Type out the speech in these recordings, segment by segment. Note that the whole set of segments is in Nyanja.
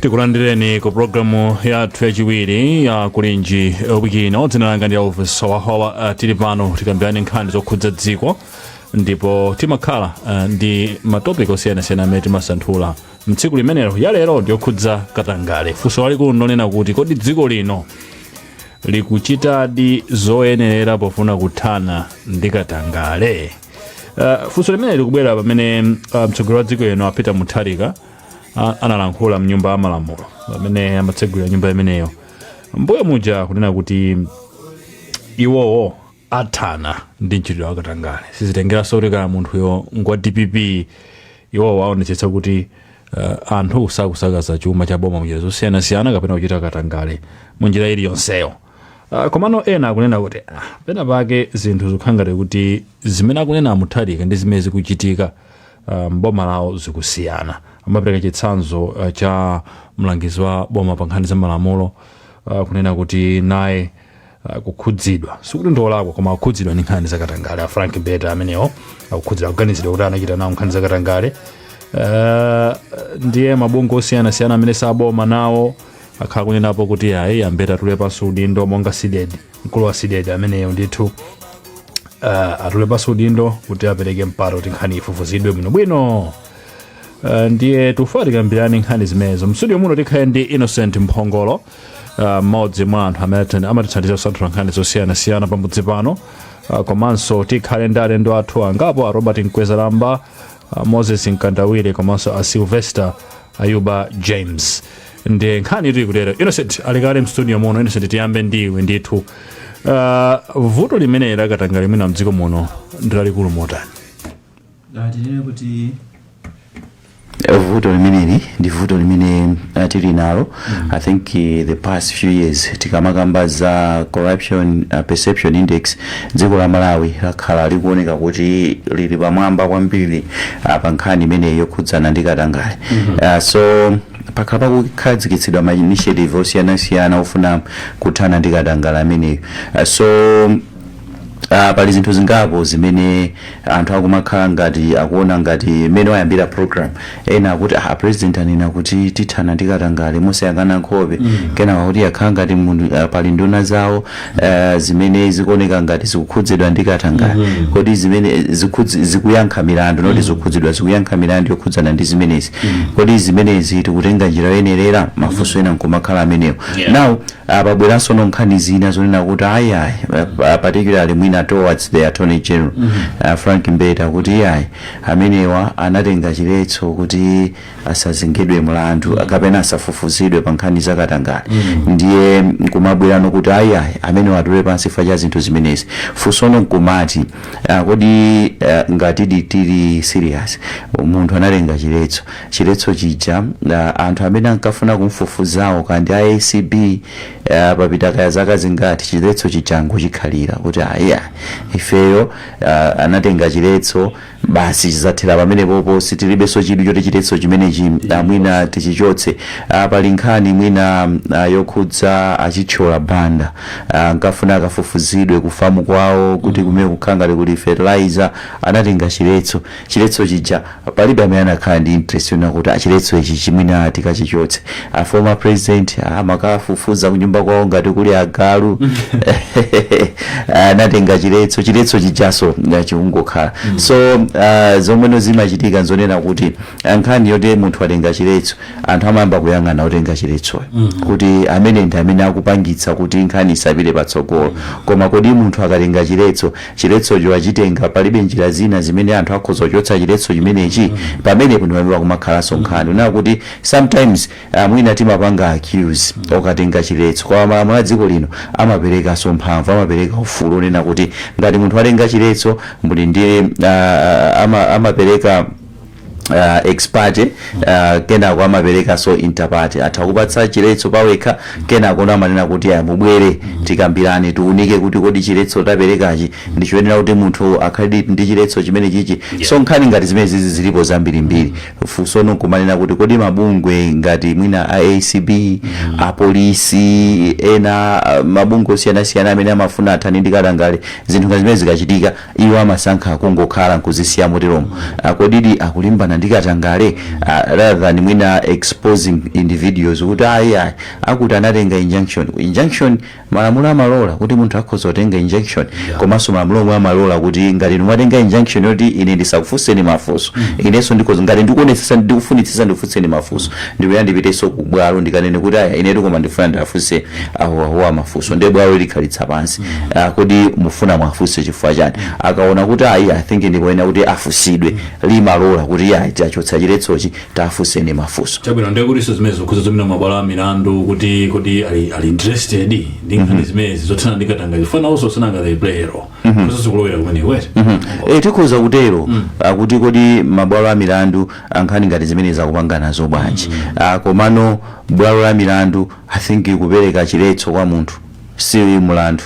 tikulandireni ku programu yathu yachiwiri ya kulinji wiki ino dzina langa ndi elvis wahowa uh, tili pano tikambirane nkhani zokhudza dziko ndipo timakhala uh, ndi matopiki osiyanasiyana amene timasanthula mtsiku limenelo yalero ndiyokhudza katangale funso lalikulu ndonena kuti kodi dziko lino likuchitadi zoyenerera pofuna kuthana ndi katangale uh, funso limeneli likubwera pamene uh, mtsogoleri wa dziko lino a Peter Mutharika a- analankhula mnyumba ya malamulo pamene amatsegulira nyumba imeneyo mbuyo muja kunena kuti iwowo athana ndi mchitidwe wa katangale sizitengeranso kuti kaya munthuyo ngwa dpp iwowo aonetsetsa kuti uh, anthu sakusakaza chuma cha boma munjira zosiyanasiyana kapena kuchita katangale munjira iliyonseyo uh, komano ena akunena kuti ah, pena pake zinthu zikukhala ngati kuti zimene akunena a Mutharika ndi zimene zikuchitika uh, mboma lawo zikusiyana amapereka chitsanzo uh, cha mlangizi wa boma pa nkhani za malamulo uh, kunena kuti naye uh, akukhudzidwa sikuti ndiolakwa koma akukhudzidwa ndi nkhani zakatangale a frank mbeta amenewo akukhudzidwa akuganizidwa kuti anachita nawo nkhani zakatangale uh, ndiye mabungwe osiyanasiyana amene saboma nawo akhala akunenapo kuti ayi a mbeta atule pansi udindo monga cdedi mkulu wa cdedi ameneyo ndithu uh, atule pansi udindo kuti apereke mpata kuti nkhani ifufuzidwe bwinobwino Uh, ndiye tikufuna tikambirane nkhani zimenezo mstudio muno tikhale ndi innocent mphongolo uh, mmodzi mwa anthu amene ati- amatithandiza kusanthula nkhani zosiyanasiyana pamudzi pano uh, komanso tikhale ndi alendo athu angapo a robert mkwezalamba uh, moses mkandawire komanso a sylvester ayuba james ndiye nkhani ili kutero innocent ali kale mstudio muno innocent tiyambe ndiwe ndithu uh, vuto limeneli la katangale mwina mdziko muno ndilalikulu motani tinene kuti vuto limeneli ndi vuto limene uh, tili nalo i think uh, the past few years tikamakamba za corruption uh, perception index Dziko la Malawi lakhala likuoneka kuti lili pamwamba kwambiri ah, pa nkhani imeneyi yokhudzana ndi katangale Ah, so pakhala pakukhazikitsidwa ma initiative osiyanasiyana ofuna kuthana ndi katangale ameneyo Ah, so Uh, pali zinthu zingapo zimene anthu akumakhala ngati akuona ngati mmene wayambira program ena akuti ah president anena kuti tithana ndi katangale mosayang'ana nkhope kenako akuti yakhala ngati mundu- ah, pali nduna zawo eh, zimene zikuoneka ngati zikukhudzidwa ndi katangale kodi zimene eh, zikhudzi- zikuyankha milandu not zikukhudzidwa zikuyankha milandu yokhudzana ndi zimenezi kodi zimenezi tikutenga njira yoyenerera mafunso ena nkumakhala amenewo Yeah. now ah pabweranso nkhani zina zonena kuti ayi ayi uh, particularly mwina towards the attorney general mm -hmm. uh, frank mbeta kuti iyayi amenewa anatenga chiletso kuti asazengedwe mlandu kapena asafufuzidwe pa nkhani za katangale mm -hmm. ndiye nkumabwerano kuti ayi ayi amenewa atule pansi chifukwa cha zinthu zimenezi funso no nkumati uh, kodi uh, ngatidi tili serious munthu anatenga chiletso chiletso chija anthu amene ankafuna kumfufuzawo kaya ndi a acb ah, papita kaya zaka zingati chiletso chija angochikhalira kuti aya ifeyo ah, anatenga chiletso basi chidzathera pamenepopo sitilibenso chidwi choti chiletso chimenechi ah, mwina tichichotse Ah, pali nkhani mwina ah, yokhudza a Chithyola Banda Ah, ankafuna akafufuzidwe kufamu kwawo kuti kumene kuja ngati kuli fertilizer anatenga chiletso chiletso chija palibe amene anakhala ndi interest yonena kuti ah chiletso ichi chi mwina tikachichotse a former president amakafufuza kunyumba kwawo ngati kuli agalu anatenga chiletso chiletso chijaso eh, chikungokhala so ah, zomweno zimachitika nzonena kuti ah, nkhani yoti munthu atenga chiletso anthu amayamba kuyang'ana otenga chiletsoyo kuti ameneyu ndi amene akupangitsa kuti nkhani isapite patsogolo koma kodi munthu akatenga chiletso chiletsocho achitenga, palibe njira zina zimene anthu akhoza kuchotsa chiletso chimenechi, pamenepo ndi pamene pakumakhalanso nkhani. Kunena kuti sometimes ah, mwina timapanga accuse okatenga chiletso, koma malamulo a dziko lino amaperekanso mphamvu, amapereka ufulu wonena kuti ngati munthu watenga chiletso, muli ndi ah, ama- amapereka uh, ex parte uh, kenako amapereka so inter parte atakupatsa chiletso pawekha kenako amanena kuti aya mubwere tikambirane tiunike kuti kodi chiletso taperekachi ndi choyenera kuti munthu akhale ndi chiletso chimenechichi so nkhani ngati zimenezizi zilipo zambirimbiri funso no nkumanena kuti kodi mabungwe ngati mwina a acb apolisi ena uh, mabungwe osiyanasiyana amene amafuna athane ndi katangale zinthu ngati zimenezi zikachitika Iwo amasankha kungokhala nkuzisiya moteromo. Ah, kodidi akulimbana ndi katangale? Ah, rather than mwina exposing individuals kuti ayi ayi akuti anatenga injunction. Injunction malamulo amalola kuti munthu akhoza kutenga injunction. Komanso malamulo omwewo amalola kuti ngati inu mwatenga injunction yoti ine ndisakufunseni mafunso, inenso ndikhoza ngati ndikuonetsetsa ndikufunitsitsa ndikufunseni mafunso, ndikuyenera ndipitenso ku bwalo ndikanene kuti aya inetu koma ndikufuna ndiwafunse awawa mafunso ndiye bwalo likhalitsa pansi Ah, kodi mufuna muwafunse chifukwa chani akaona kuti ayi i think ndikoyenera kuti afunsidwe limalola kuti ayi tachotsa chiletsochi tafunseni mafunso chabwino ndiye kuti zimenezi zikukhudzanso mwina mabwalo a milandu kuti kuti ali ali interested ndi nkhani zimenezi zothana ndi katangale chifukwa nawonso si nanga ndi ma player okuso sikulowera kumene kwete e, tikhoza kutero ah, kuti kodi mabwalo a milandu nkhani ngati zimenezi akupanga nazo bwanji Ah, komano bwalo la milandu I think kupereka chiletso kwa munthu si mlandu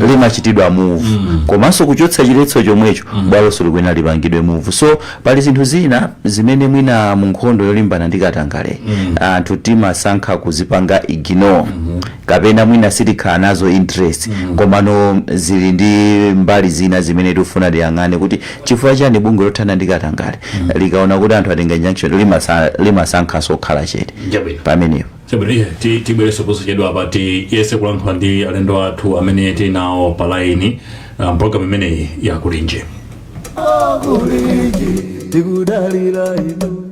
limachitidwa move komanso kuchotsa chiletso chomwecho bwalonso likuyenera lipangidwe move so pali zinthu zina zimene mwina mu nkhondo yolimbana ndi katangale anthu timasankha kuzipanga ignore kapena mwina sitikhala nazo interest komano zili ndi mbali zina zimene tikufuna tiyang'ane kuti chifukwa chani bungwe lothana ndi katangale likaona kuti anthu atenga injunction limasankhanso kukhala chete pamenepo chabwino tibwereso posachedwa apa tiyese kulankhula ndi alendo athu amene tili nawo pa laini um, programu imeneyi yakulinji tikudalira inu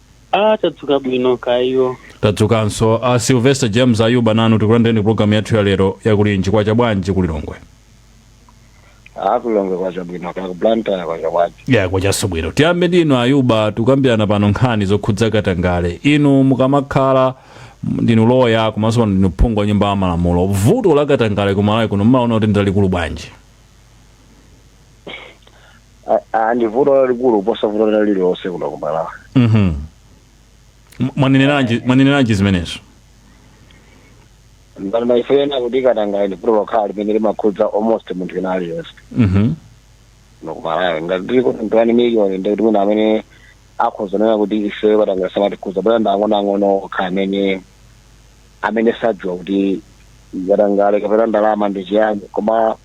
Ah, tadzuka bwino kaya iwo. tadzukanso a sylvester james ayuba nanu tikulandireni ku programu yathu ya lero yakulinji kwacha bwanji ku lilongwe kulilongwe kwacha bwino kaya kublantyre kwacha bwanji kwachanso bwino tiyambe ndi inu ayuba tikukambirana pano nkhani zokhudza katangale inu mukamakhala ndinu loya komanso pano ndinu phungu wa nyumba ya malamulo vuto la katangale ku malawi kuno mumaona kuti ndilalikulu bwanji A- a- ndi vuto lalikulu kuposa vuto lina lililonse kuno ku malawi Mhm. mwaneneranji zimenezo ndinganene kuti katangale ndi vuto lokhala limene limakhudza almost munthu wina aliyense Mhm. kuno ku malawi ngati tili kuti twenty wani miliyoni ndi kuti mwina amene akhoza kunena kuti ife katangale samatikhudza ndi ana ang'onoang'ono okha amene amene sadziwa kuti katangale kapena ndalama ndi chiyani koma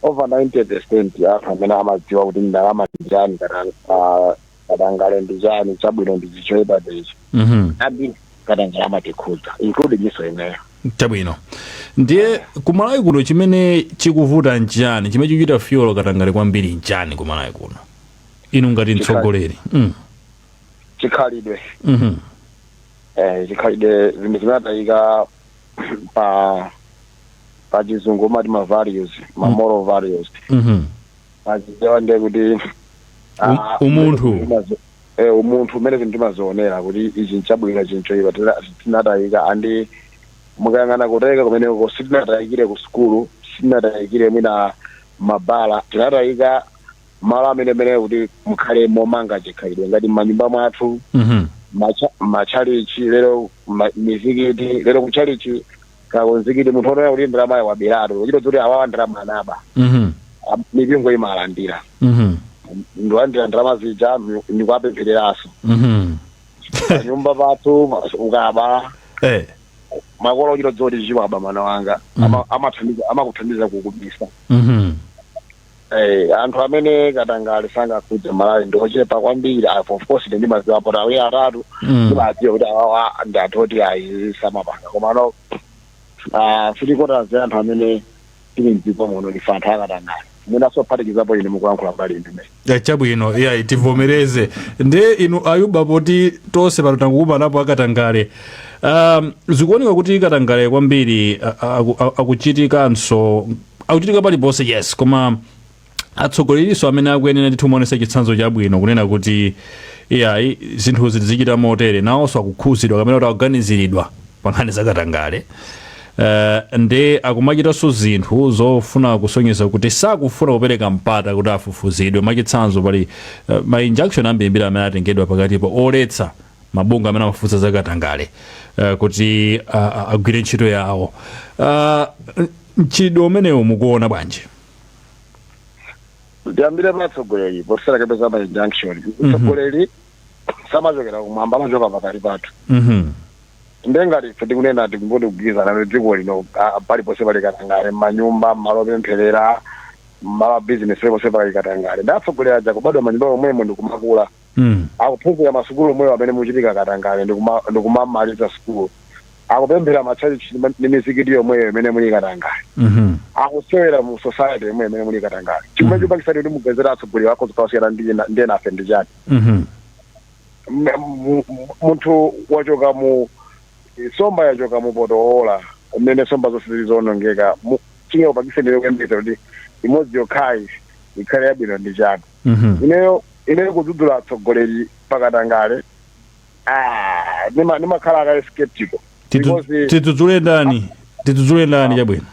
over 90 percent ya anthu amene amadziwa kuti ndalama ndi chani katang- ah, katangale ndi chani chabwino ndi chichoipa ndichi Mhm. ambiri katangale amatikhudza including inuyo ndi ineyo chabwino ndiye kumalawi kuno chimene chikuvuta nchani chimene chikuchita fuel katangale kwambiri nchani kumalawi kuno inu ngati mtsogoleri Mm. chikhalidwe Mhm. eh, chikhalidwe chimene chinatayika pa pa chizungu umati ma values ma moral values Mhm. pachichewa ndiye kuti ah, umunthu eh, mmene zinthu timazionera kuti ichi nchabwino ichi nchoipa tina- tinatayika andi mukayang'ana kutayika kumeneko sitinatayikire ku sukulu sitinatayikire mwina m'mabala tinatayika malo amene amayenera kuti akhale momanga chikhalidwe ngati m'manyumba mwathu Mhm. m'matchalichi lero m'mizikiti lero kutchalichi kaya kumzikiti munthu odziwa kuti ndalamayi waberatu kuchita kudziwa kuti awawa ndalama anaba Mhm. A- mipingo imalandira Mhm. ndikulandira ndalama zija mi- ndikuwapemphereranso Mhm. panyumba pathu pa- ukaba Eh. makolo ochita kudziwa kuti ichi waba mwana wanga amakuthandiza kukubisa Mhm. Hey, anthu amene katangale sangakhudze malawi ndi ochepa kwambiri apo of course ine ndimadziwapo awiri atatu Mm. ndimadziwa kuti awawa ndi anthu oti ayi samapanga komano ah, three quarters anthu amene tili mdziko muno ndife anthu akatangale mwina osaphatikizapo ine mukulankhula mbali ndine Ya, chabwino iyayi tivomereze nde inu ayuba poti tonse pano tangokumanapo akatangale um, zikuoneka kuti katangale kwambiri a- a- aku- a- akuchitikanso akuchitika paliponse yes koma atsogoleriso amene akuyenera ndithu kumaonesa chitsanzo chabwino kunena kuti iyayi zinthu zizichita motere nawonso akukhudzidwa kapena kuti akuganiziridwa pa nkhani zakatangale uh, nde akumachitanso zinthu zofuna kusonyeza kuti sakufuna kupereka mpata kuti afufuzidwe mwachitsanzo pali uh, ma injunction ambirimbiri amene atengedwa pakatipo oletsa mabungwe amene amafufuza zakatangale uh, kuti uh, agwire ntchito yawo uh, mchitidwe umenewu mukuona bwanji? ndiyambire pa atsogoleri tisanakapeze ma injunction mtsogoleri samachokera kumwamba amachoka pakati pathu Mhm. nde ngati ife tikunena tikungoti tikugwirizana kuti dziko lino ah, paliponse pali katangale mmanyumba mmalo opempherera mmalo a bizinesi paliponse pali katangale nde atsogoleri aja akubadwa mmanyumba omwemo ndikumakula mm. akuphunzira masukulu omwewo amene muchitika katangale ndikuma- ndikumamaliza sukulu akupemphera matchalichi ndi ma- ndi mizikiti yomweyo imene muli katangale mhm. akusewera mu society yomweyo imene muli katangale chimene chipangitse kuti muyembekezere atsogoleri akhoza kukasiyana ndi ena- ndi enafe ndi chani Mhm. M- m- m- munthu wachoka mu somba yachoka mu poto oola umene somba zonse zili zoonongeka Mu- chingakupangitseni kuyembekeza kuti imodzi yokhayi ikhale yabwino ndi chani Mhm. ineyo ineyo kudzudzula atsogoleri pakatangale ah, nima- nimakhala a kale skeptical Tidzu- because tidzudzule ndani tidzudzule ndani chabwino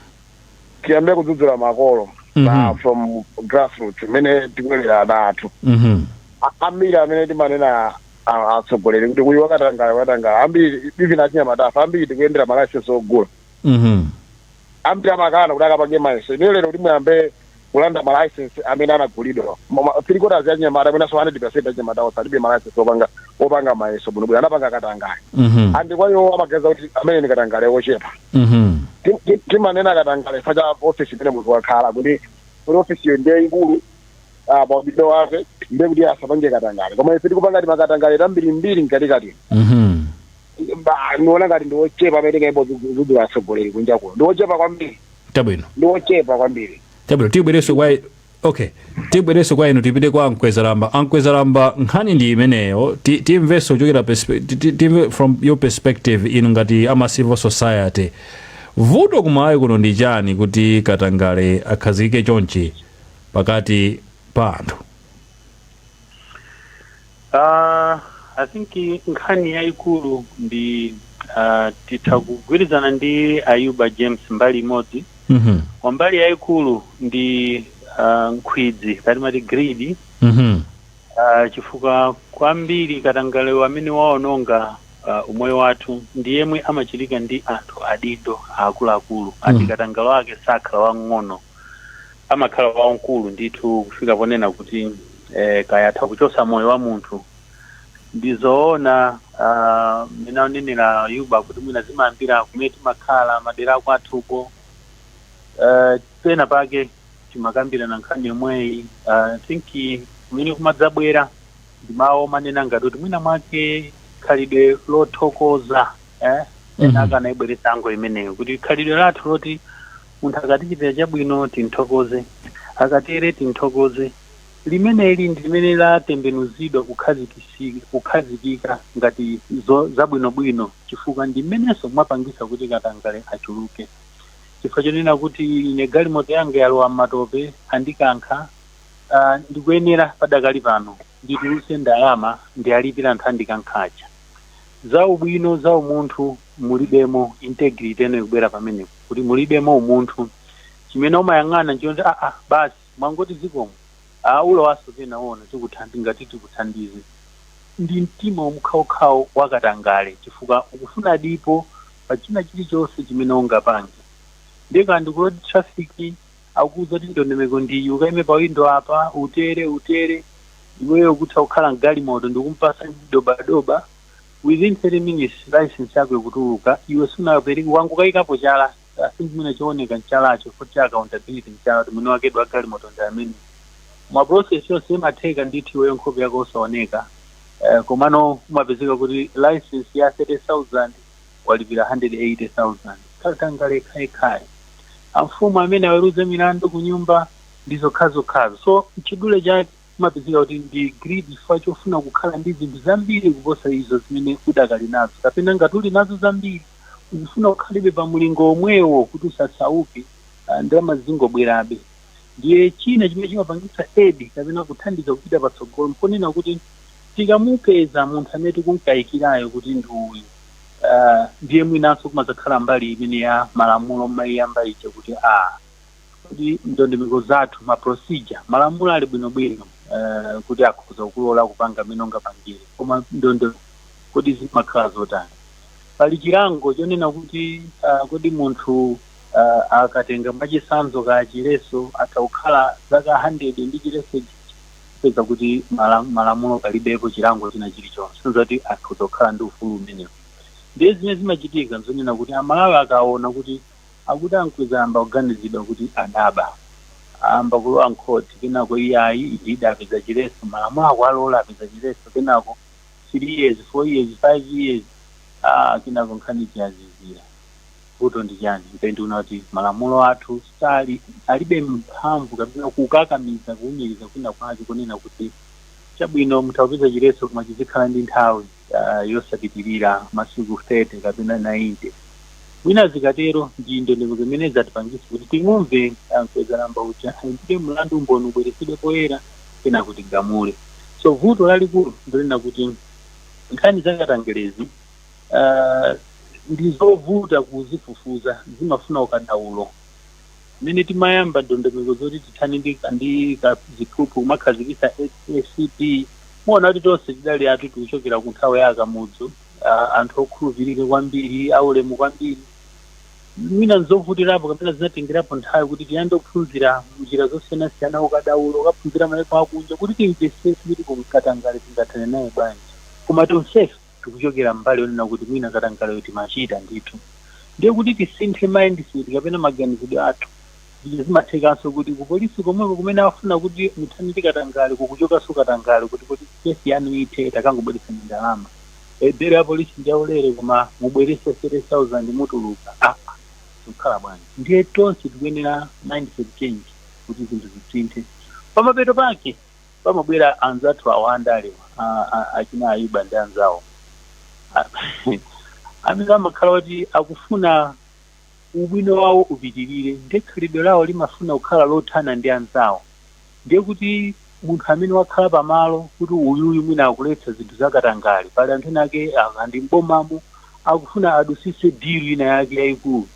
tiyambe kudzudzula makolo Mhm. na from grassroots mmene tikulerera ana athu Mhm. A- ambiri amene timanena a- atsogoleri kuti uyu wakatangale wakatangale ambiri even achinyamatafa ambiri tikuyendera malayisensi ogula Mhm. ambiri amakana kuti akapange mayeso ine lero kuti muyambe kulanda malaisensi amene anagulidwa Moma- three quarters ya achinyamata mwinanso 100 percent ya achinyamata onse alibe malaisensi opanga opanga mayeso bwinobwino anapanga katangale Mhm. andi kwa iwo amaganiza kuti amene ni katangale ochepa Mhm. Tim- tim- timanena katangale chifukwa cha ofisi imene munthu wakhala kuti kuti ofisi iyo ndi yaikulu ah, pa udindo wake ndiye kuti asapange katangale koma ife tikupanga timakatangale tambirimbiri mkatikati Mhm. Ba- ndiona ngati ndi ochepa amene tingayambe kuzudzula atsogoleri kunja kuno ndi ochepa kwambiri chabwino ndi ochepa kwambiri chabwino tibwereso kwa okay tibwereso kwa inu tipite kwa amkwezalamba amkwezalamba nkhani ndi imeneyo Ti- timvenso kuchokera perspe- ti- ti- timve from your perspective inu ngati ama civil society vuto kumalawi kuno ndi chani kuti katangale akhazikike chonchi pakati pa anthu Uh, I think i- nkhani yayikulu ndi uh, titha kugwirizana ndi Ayuba James mbali imodzi Mhm. kwa mbali yayikulu ndi uh, nkhwidzi kaya timati greed Mhm. uh, chifukwa kwambiri katangale amene waononga uh, umoyo wathu ndi yemwe amachitika ndi anthu adindo aakuluakulu ati Mm. katangale wake sakhala wang'ono amakhala wamkulu ndithu kufika ponena kuti eh, kaya atha kuchosa moyo wa munthu ndizoona ah, mmene anenera Ayuba kuti mwina zimayambira kumene timakhala madera akwathuko Eh, pena pake timakambirana nkhani yomweyi Ah, I think kumene kumadzabwera ndi mawu omanena ngati kuti mwina mwake khalidwe lothokoza eh? Mhm. ena akanayibweretsa angle imeneyo kuti khalidwe lathu loti Munthu akatichitira chabwino timthokoze, akatere timthokoze. Limeneli ndi limene latembenuzidwa kukhazikisika, kukhazikika ngati zo, zabwinobwino chifukwa ndi limenenso lapangisa kuti katangale achuluke. Chifukwa chonena kuti ine galimoto yanga yalowa mmatope andikankha, ah, ndikuyenera padakali pano. ndituluse ndalama ndialipile anthu andikankha aja. za ubwino za umunthu mulibemo integrity ino ikubwera pamenepo kuti mulibemo umunthu. chimene umayang'ana nchoti aa basi mwangoti zikomo aa ulowaso pena uona tikuthandi ngati tikuthandize. ndi mtima omkhawokhawo wa katangale chifukwa ukufuna dipo pa china chilichonse chimene ungapange. ndiye kaya ndi ku road traffic. akuuza kuti ndondomeko ndiyi ukaime pa windo apa utere utere iweyo ukutha kukhala mgalimoto ndikumpasa dobadoba within 30 minutes license yako ikutuluka iwe sunapereke wangokayikapo chala si chimene chooneka mchalacho futi cha accountability mchala kuti mwini wakedi wa galimoto ndi amene ma process yonse imatheka ndithu iweyo nkhope yako osaoneka Eh, komano umapezeka kuti license ya 30000 walipira K180,000. Katangale khayekhaye. Amfumu amene aweruze milandu kunyumba ndi zokhazokhazo. So, m'chidule chake, umapezeka kuti ndi greed chifukwa chofuna kukhala ndi zinthu zambiri kuposa izo zimene udakali nazo, kapena ngati uli nazo zambiri, uzifuna kukhalabe pa mulingo omwewo kuti usasauke, ah, ndalama zizingobwerabe. Ndiye china chimene chimapangisa aid kapena kuthandiza kupita patsogolo mponena kuti tikamupeza munthu amene tikumkayikirayo kuti ndi uyu, uh, ndiye mwinanso kumadzakhala mbali imene ya malamulo mmaiyamba ija kuti a kodi ndondomeko zathu ma procedure malamulo ali bwinobwino uh, kuti akhoza kulola kupanga mmene ungapangire koma ndondo kodi zimakhala zotani pali chilango chonena kuti uh, kodi munthu uh, akatenga mwachitsanzo ka chiletso atha kukhala zaka 100 ndi chiletso kupeza kuti mala- malamulo palibepo chilango china chilichonse kusonyeza kuti akhoza kukhala ndi ufulu umenewo ndiye zimene zimachitika nzonena kuti amalawi akaona kuti akuti a Mkwezalamba akuganiziridwa kuti adaba ayamba kulowa mkhoti kenako iye ayi idida apeza chiletso malamulo akuwalola apeza chiletso kenako three years four years five years ah, kenako nkhani ija yazizira Vuto ndi chani ine ndiona kuti malamulo athu sali alibe mphamvu kapena kukakamiza kuumiriza kwina kwake kunena kuti chabwino mutha kupeza chiletso koma chizikhala ndi nthawi uh, yosapitirira masiku 30 kapena 90 mwina zikatero ndi ndondomeko zimene zatipangitsa kuti timumve Mkwezalamba uja ndiye mlandu umboni ubweretsedwe poyera kenako tigamule so vuto lalikulu ndi lonena kuti nkhani zakatangalezi uh, ndi zovuta kuzifufuza zimafuna ukadaulo mmene timayamba ndondomeko zoti tithane ndi ndi ka- ziphuphu kumakhazikitsa ACB muona kuti tonse tidali anthu tikuchokera ku nthawi ya a Kamuzu uh, anthu okhulupirika kwambiri aulemu kwambiri mwina nzovutirapo kapena zinatengerapo nthawi kuti tiyambe kuphunzira njira zosiyanasiyana ukadaulo kukaphunzira maiko akunja kuti timvetsetse kuti kodi katangale tingathane naye bwanji koma tonsefe tikuchokera mbali yonena kuti mwina katangaleyo timachita ndithu ndiye kuti tisinthe mindset kapena maganizidwe athu eja zimathekanso kuti ku polisi komweko kumene afuna kuti muthane ndi katangale kukuchokanso katangale kuti kuti kesi yanu ithe takangobweretsani ndalama e, belo ya polisi ndi yaulere koma mubweretse 30000 mutuluka ah, zikukhala bwanji ndiye tonse tikuyenera mindset change kuti zinthu zisinthe pamapeto pake pamabwera anzathu awa andale a- a- achina Ayuba ndi anzawo A- amene amakhala kuti akufuna ubwino wawo upitirire ndiye khalidwe lawo limafuna kukhala lothana ndi anzawo ndiye kuti munthu amene wakhala pamalo kuti uyuyu mwina akuletsa zinthu zakatangale pali anthu ena ake a ku ndi mbomamo akufuna adutsitse dilu ina yake yayikulu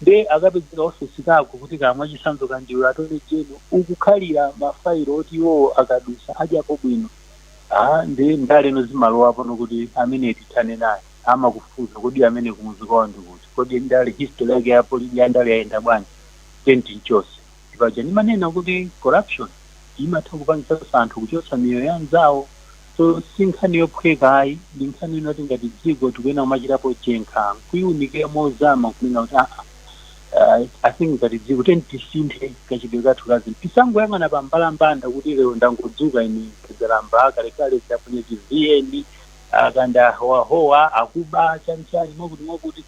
Nde akapezeka office kako kuti kaya mwachisanzo ka ndiwe Attorney General ukukhalira ma file oti iwowo akadutsa adyapo bwino haa nde ndale pano zimalowa pano kuti ameneyi tithane naye amakufufuza kodi ameneyi kumudzi kwawo ndikuti kodi ndale history yake ya ya ndale yayenda bwanji then timchotse Sipaja ndimanena kuti corruption imatha kupangitsa anthu kuchotsa miyoyo ya anzawo? So si nkhani yophweka ayi, ndi nkhani yonena kuti ngati dziko tikuyenera kumachitapo chenkha n'kuiunikira mozama n'kunena kuti aa I think ngati dziko tiyeni tisinthe kachitidwe kathu ka zinthu. Tisangoyang'ana pa mbalambanda kuti lero ndangodzuka ine Mkwezalamba, akalekale zaponye chiviyeni, akanda ahowahowa, akuba, chani chani mwakuti mwakuti.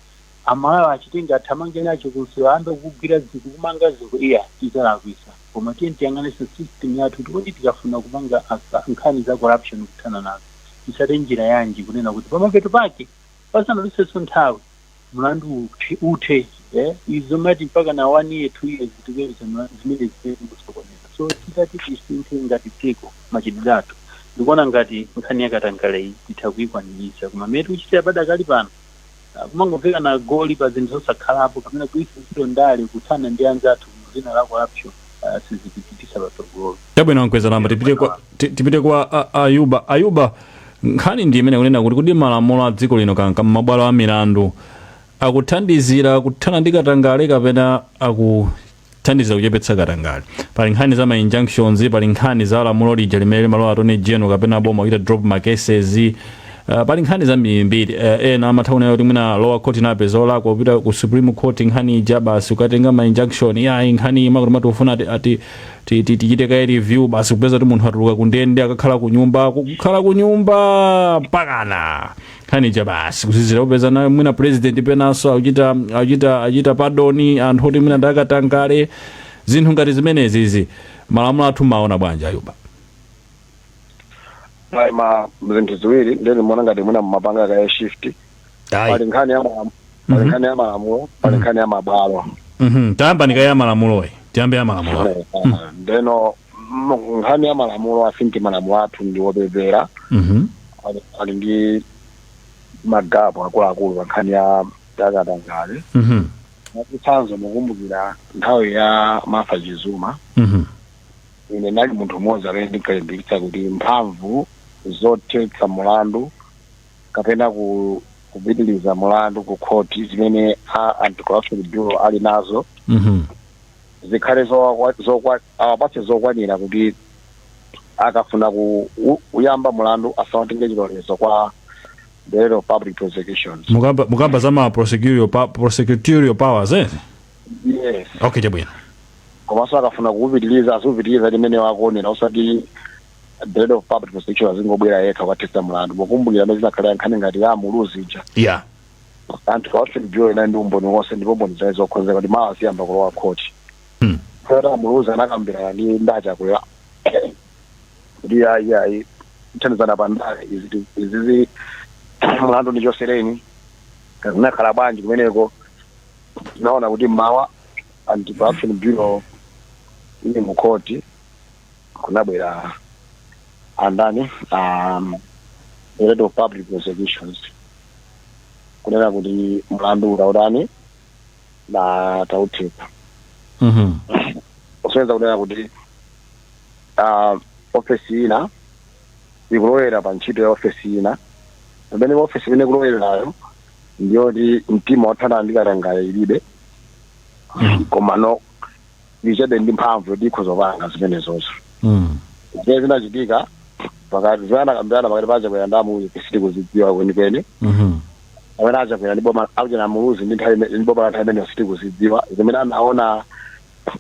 Amalawi achitenge athamange nacho kunsewu ayambe kugwira zinthu kumanga zinthu ayi tizalakwisa koma tiyeni tiyang'anitse system yathu kuti kodi tikafuna kupanga nkhani za corruption kuthana nazo titsate njira yanji kunena kuti pamapeto pake pasanatalikenso nthawi mlandu uthe izi zomati mpaka na one year two years tikuyeruza mlandu zimene zikusokoneza so titati tisinthe ngati dziko machitidwe athu ndikuona ngati nkhani yakatangaleyi titha kuyikwaniritsa koma mmene tikuchitira padakali pano Kumangovekana goli pa zinthu zosakhalapo kapena kugwiritsa ntchito ndale kuthana ndi anzathu mu dzina la corruption sizitipitisa patsogolo. Chabwino a Mkwezalamba, tipite kwa ti- tipite kwa a- a Ayuba. Ayuba, nkhani ndi imene kunena kuti kodi malamulo a dziko lino kanka m'mabwalo a milandu akuthandizira kuthana ndi katangale kapena aku thandiza kuchepetsa katangale pali nkhani za ma injunctions pali nkhani za lamulo lija limene limalowa Attorney General kapena boma kuchita drop ma cases Uh, pali nkhani zambirimbiri uh, ena amatha kunena kuti mwina lower court inapeza olakwa kupita ku Supreme Court nkhani ija basi ukatenga ma injunction yayi nkhani imakuti mati tikufuna ati, ati ti- ti- tichite kaye review basi kupeza kuti munthu atuluka kundende akakhala kunyumba kukhala kunyumba mpakana nkhani ija basi kuzizira kupezanso mwina president penanso achita achita achita pardon anthu oti mwina ndi akatangale zinthu ngati zimenezizi malamulo athu mumaona bwanji a Ayuba Mwa- ma zinthu ziwiri ndiye ndimaona ngati mwina mumapanga kaye shift pali ayi nkhani ya malamu- pali nkhani ya malamulo pali nkhani ya mabwalo Mhm, tayambani kaye ya malamuloyi tiyambe ya malamuloyi ndeno m- nkhani ya malamulo I think malamulo athu ndi wopepera Mhm. ali- ali ndi ma gap akuluakulu pa nkhani ya yakatangale Mhm. mwachitsanzo mukumbukira nthawi ya Martha Chizuma Mhm. ine ndinali munthu mmodzi amene ndinkalimbikitsa kuti mphamvu zothetsa mulandu kapena ku kupitiliza mulandu ku khoti zimene a Anti-Corruption Bureau ali nazo Mhm. zikhale zokwa- zokwa- awapatse zokwanira kuti akafuna ku- u- kuyamba mulandu asamatenge chilolezo kwa Director of Public Prosecutions mukamba mukamba za ma prosecutorial pa- prosecutorial powers eh yes okay chabwino komanso akafuna kuupitiliza aziupitiliza mmene iwo akuonera osati Director of Public Prosecutions azingobwera yekha kukathetsa mulandu mukumbukira mmene zinakhalira nkhani ngati ya Muluzi ija yeah Anti-Corruption Bureau inali ndi umboni wonse ndipo mboni zake zokonzeka kuti mawa ziyamba kulowa khoti Hmm. a Muluzi anakambirana ndi a Chakwera kuti ayi ayi kuthandizana pa ndale izi- izizi mlandu ndichotsereni zinakhala bwanji kumeneko tinaona kuti mawa Anti-Corruption Bureau ili mu khoti kunabwera andani um, head of public prosecutions kunena kuti mlandu tautani tauthetsa Mhm. kusonyeza kunena kuti ah, ofesi ina ikulowerera pa ntchito ya ofesi ina pamene ofesi imene ikulowererayo ndiyoti mtima wothana ndi katangale ilibe komano ili chabe ndi mphamvu yoti ikhoza kupanga zimenezozo Mm. zimene zinachitika pakati zimene anakambirana pakati pa a Chakwera ndi a Muluzi sitikuzidziwa kwenikweni Mhm. amene a Chakwera ndi boma akuchena a Muluzi ndi nthawi imene- ndi boma la nthawi imeneyo sitikuzidziwa zimene anaona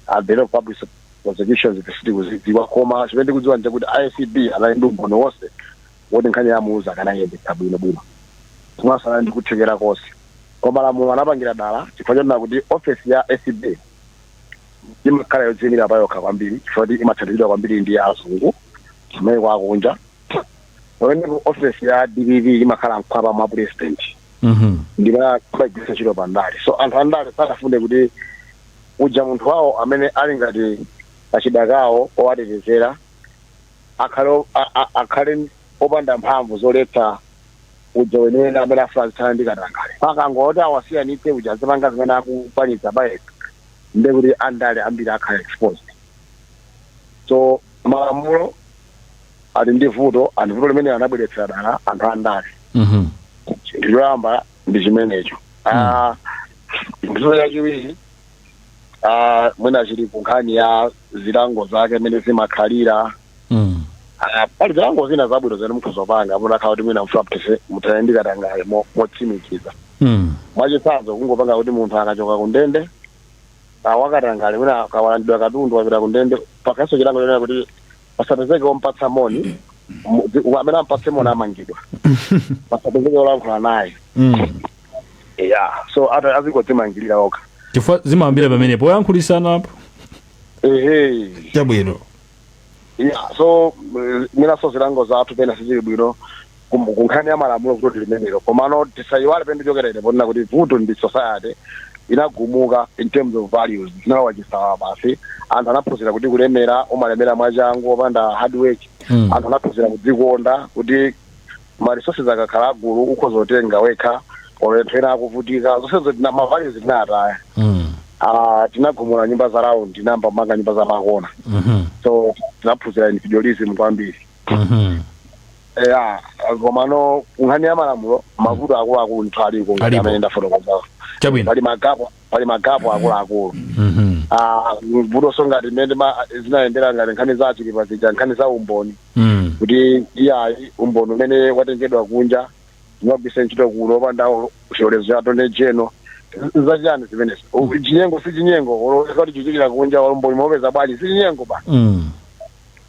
a head of public prosecutions sitikuzidziwa koma chimene tikudziwa ndi chakuti acb anali ndi umboni wonse woti nkhani ya a Muluzi akanayendetsa bwino bwino komanso anali ndi kuthekera konse koma malamulo anapangira dala chifukwa chonena kuti ofesi ya acb imakhala yodziimira pa yokha kwambiri chifukwa choti imathandizidwa kwambiri ndi azungu kumayiko akunja pamene ofesi ya dpp imakhala mkhwapa mwa president Mhm. nde amaigwiritsa ntchito pa ndale so anthu andale sanafune kuti uja munthu wawo amene ali ngati kachida kawo kowatetezera akhale o- a- a- akhale opanda mphamvu zoletsa uja weniweni amene afuna azithana ndi katangale. Pakangoti awasiyanitse uja azipanga zimene akukwanitsa payekha ndiye kuti andale ambiri akhala exposed. So malamulo ali ndi vuto and vuto limene anabweretsera dala anthu andale. Mhm. chinthu choyamba ndi chimenecho Ah, chinthu chachiwiri ah, mwina chili ku nkhani ya zilango zake mmene zimakhalira Mm. Ah, pali zilango zina zabwino zimene mukhoza kupanga mutakhala kuti mwina mfuna muthetse muthane ndi katangale mo- motsimikiza Mm. mwachitsanzo kungopanga kuti munthu akachoka kundende awakatangale mwina akawalandidwa katundu wapita kundende pakhalenso chilango chonena kuti pasapezeke omupatsa moni mu- zi- wa- amene ampatse moni amangidwa pasapezeke wolankhula naye Mm. ya so ata azingodzimangilira okha chifukwa zimayambira pamene poyankhulisana apo ehe chabwino yeah so mm, mwinanso zilango zathu pena sizili bwino kum- kunkhani ya malamulo vuto ndi limenelo komano tisayiwale pamene ndichokera ine ponena kuti vuto ndi society inagumuka in terms of values zinalowa chisawawa basi anthu anaphunzira kuti kulemera umalemera mwachangu opanda hard work Mm. anthu anaphunzira kudzikonda kuti ma resources akakhala agulu ukhoza kutenga wekha olo anthu ena akuvutika zonsezo tina ma values tinataya Mm. Ah, tinagumula nyumba za round tinayamba kumanga nyumba za makona Mhm. so tinaphunzira individualism kwambiri Mhm. ya komano kunkhani ya malamulo mavuto akuluakulu ndithu aliko Alipo. amene ndafotokozawo Chabwino. pali magapo pali magapu akuluakulu Mhm. Ah, vutoso ngati mmene ma- zinayendera ngati nkhani za achilipa zija nkhani za umboni Mm. kuti iyayi umboni umene watengedwa kunja sumagwisa ntchito kuno opanda chilolezo cha attorney general zachiyani zimenezo U- chinyengo si chinyengo olo kaya chichitikira kunja umboni mwaupeza bwanji si chinyengo basi Mm.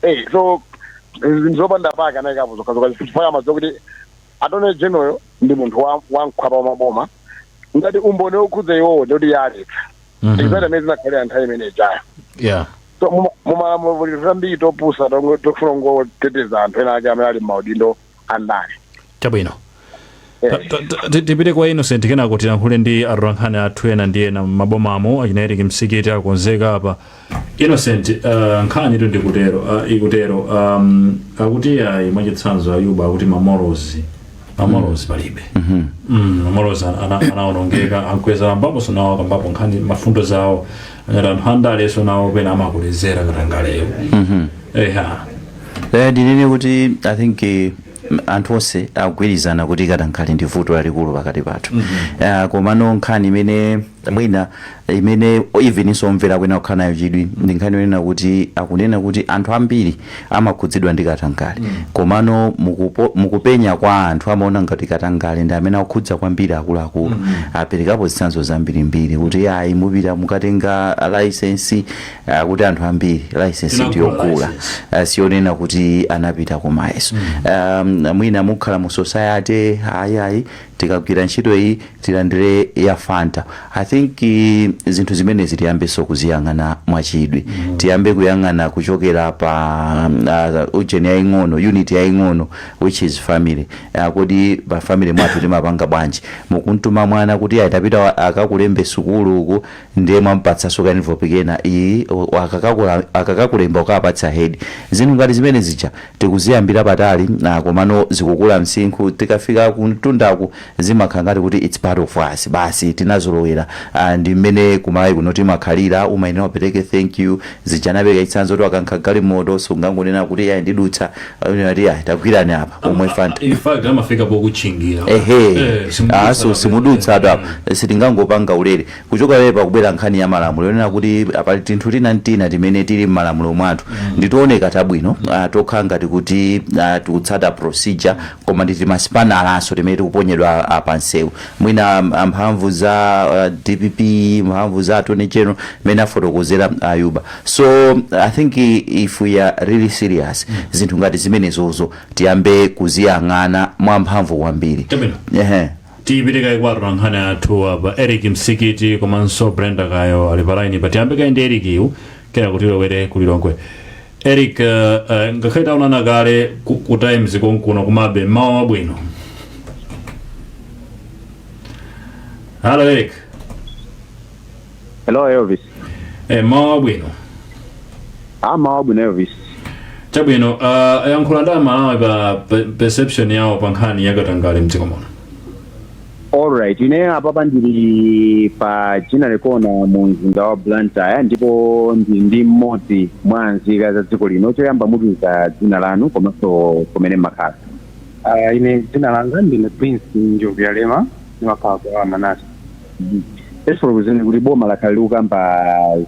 Eh, so zinthu zopanda pake anayikapo zokhazoka chifukwa amadziwa kuti attorney generalyo ndi munthu wa- wamkhwapa wa maboma ngati umboni wokhudza iwowo ndikuti aletsa Mhm. exactly mmene zinakhalira nthawi imene ijayo yeah So, mu- mu malamulo muli tambiri topusa tongo- tofuna kungoteteza anthu ena ake amene ali m'maudindo andale chabwino Eh. Ta- ta- ta- ti- tipite kwa innocent kenako tilankhule ndi atolankhani athu ena ndi ena m'mabomamo achina eric msikiti akonzeka apa Innocent uh, nkhanitu ndikutero uh, ikutero um, akuti ayi mwachitsanzo ayuba akuti ma morals ma morals palibe Mm, ma morals ana- ana- anaonongeka a Mkweza akambaposo nawo akambapo nkhani maganizo awo akuti anthu andaleso nawo pena amakulezera katangaleyo eha Eh, ndinene kuti i think eh, anthu onse akugwirizana kuti katangale ndi vuto lalikulu pakati pathu Ah, komano nkhani imene mwina imene eveninso omvera akuyenera kukhala nayo chidwi ndi nkhani yonena kuti akunena kuti anthu ambiri amakhudzidwa ndi katangale komano mukupo- mukupenya kwa anthu amaona ngati katangale ndi amene akukhudza kwambiri akuluakulu aperekapo zitsanzo zambirimbiri kuti ayi mupite mukatenga laisensi akuti anthu ambiri license Tinagula ndiyogula license. Ah, siyonena kuti anapita ku mayeso um, mwina mukhala mu society ayi ayi tikagwira ntchito iyi tilandire ya fanta i think eh, zinthu zimenezi tiyambenso kuziyang'ana mwachidwi tiyambe kuyang'ana kuchokera pa uh, ujeni yaying'ono unit yaying'ono which is family uh, kodi pa family mwathu timapanga bwanji mukuntuma mwana kuti ayi tapita a- akakulembe sukulu uku ndiye mwamupatsaso ka envelope kena iyi a- akakakula- akakakulemba ukapatse head zinthu ngati zimene zija tikuziyambira patali ah, komano zikukula msinkhu tikafika kuntundaku zimakhala ngati kuti its part of us basi tinazolowera ah, ndi mmene kumalawi kuno timakhalira umayenera upereke thank you zija anapereka chitsanzo kuti wakankha galimoto sungangonena kuti ayi ndidutsa amanena kuti ayi tagwirani apa omwe fanta in fact amafika pokutchingira ehe Eh, simudutsaso apa. simudutsa apa sitingangopanga ulere Kuchoka pamene pakubwera nkhani ya malamulo yonena kuti pali tinthu tina ntina timene tili mmalamulo mwathu ndi tooneka tabwino, tokhala ngati kuti tikutsata procedure koma ndi timasipanalanso timene tikuponyedwa pa msewu. Mwina mphamvu za dpp, mphamvu za attorney general mmene afotokozera Ayuba. So I think if we are really serious zinthu ngati zimenezozo tiyambe kuziyang'ana mwamphamvu kwambiri. Chabwino. Ehe. tipite kaye kwa atolankhani athu apa eric msikiti komanso brenda kayo ali pa line apa tiyambe kaye ndi eric yu kenaka tilowere ku lilongwe eric uh, uh, ngakhale taonana kale ku, ku times konkuno komabe mmawa wabwino halo eric hello elvis e, mmawa wabwino a mmawa wabwino elvis chabwino uh, yankhula ndi amalawi pa pe- perception yawo pa nkhani ya katangale mdziko muno alright ine apapa ndili pa ginnery corner mu mzinda wa blantyre ndipo ndili ndi mmodzi mwa nzika za dziko lino choyamba mutiuze dzina lanu komanso kumene mumakhala Uh, ine dzina langa ndine prince njobvuyalema ndimakhala kwa manase Tafotokozani kuti boma lakhala likukamba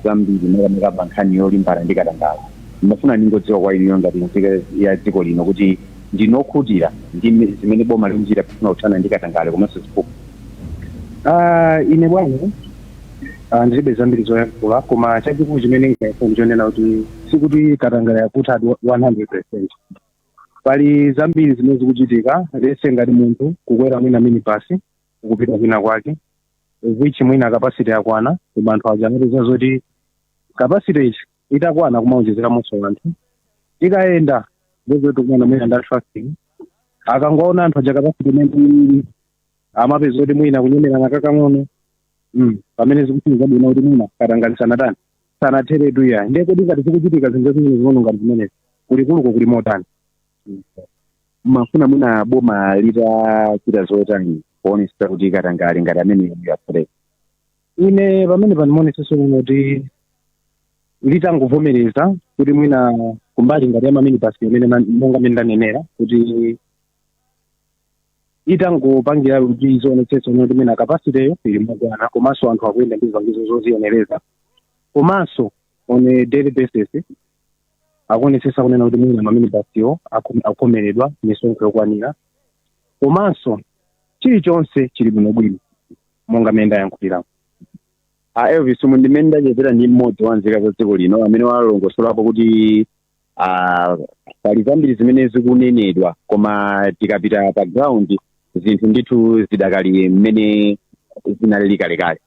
zambiri makamaka pa nkhani yolimbana ndi katangale. Ndimafuna ndingodziwa kwa inuyo ngati nzika ya dziko lino kuti ndinu okhutira ndi mme- zimene boma likuchita pofuna kuthana ndi katangale komanso ziphuphu. Ah, ine bwana ah, ndilibe zambiri zoyankhula koma chachikulu chimene ndingayankhe ndi chonena kuti sikuti katangale yakutha 100% pali zambiri zimene zikuchitika lese ngati munthu kukwera mwina minibasi ukupita kwina kwake which mwina capacity yakwana koma anthu aja amapeza zoti capacity itakwana kumaonjezeramonso anthu ikayenda ndi zoti kukumana mwina nda traffic akangoona anthu aja capacity imene amapeza kuti mwina kunyemerana kakang'ono mm. pamene zikuchini zabwino kuti mwina katangale sanathe sanatheretu ya ndiye kuti ngati zikuchitika zinthu zimene zing'ono ngati zimenezi kulikuluko kuli motani mumafuna mwina boma litachita zotani kuonesa kuti katangale ngati amene yapuleka ine pamene pandimonetseso kuno kuti litangovomereza kuti mwina kumbali ngati ya maminibasi imene na- monga mene ndanenera kuti itangopangira kuti izionetsetsa kuti mwina kapasiteyo ili mokwana komanso anthu akuyenda ndi zipangizo zoziyenereza komanso on a daily basis akuonetsetsa kunena kuti mwina maminibasiwo akum- akukhomeredwa misonkho yokwanira komanso chilichonse chili bwinobwino monga mmene ndayankhuliramo a elvis umu ndi mmene ndachezera ndi mmodzi wa nzika za dziko lino amene walongosolapo kuti ah, pali zambiri zimene zikunenedwa koma tikapita pa ground zinthu ndithu zidakali mmene zinalili kalekale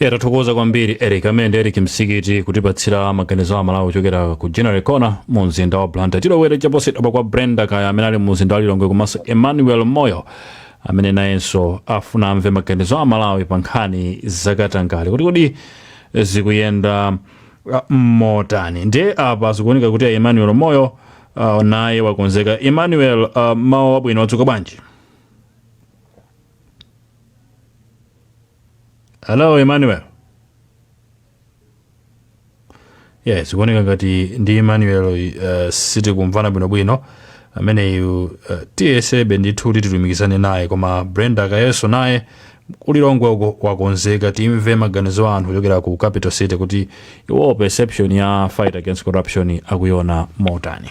ya tathokoza kwambiri eric amene ndi eric msikiti kutipatsira maganizo a amalawi kuchokera ku ginnery corner mu mzinda wa blantyre tilowere chaposachedwapa kwa brenda kayo amene ali mu mzinda wa lilongwe komanso emmanuel moyo amene nayenso afuna amve maganizo a amalawi pa nkhani zakatangale kuti kodi zikuyenda uh, motani ndiye apa zikuoneka kuti a emmanuel moyo uh, naye wakonzeka emmanuel uh, mmawa wabwino wadzuka bwanji Hello, Emmanuel. Yes, zikuoneka ngati ndi Emmanuel uh, sitikumvana bwinobwino ameneyu uh, tiyesebe ndithu kuti tilumikizane naye koma brenda kayonso naye kulilongwe uko wakonzeka timve maganizo a anthu kuchokera ku capital city kuti iwo perception ya fight against corruption akuiona motani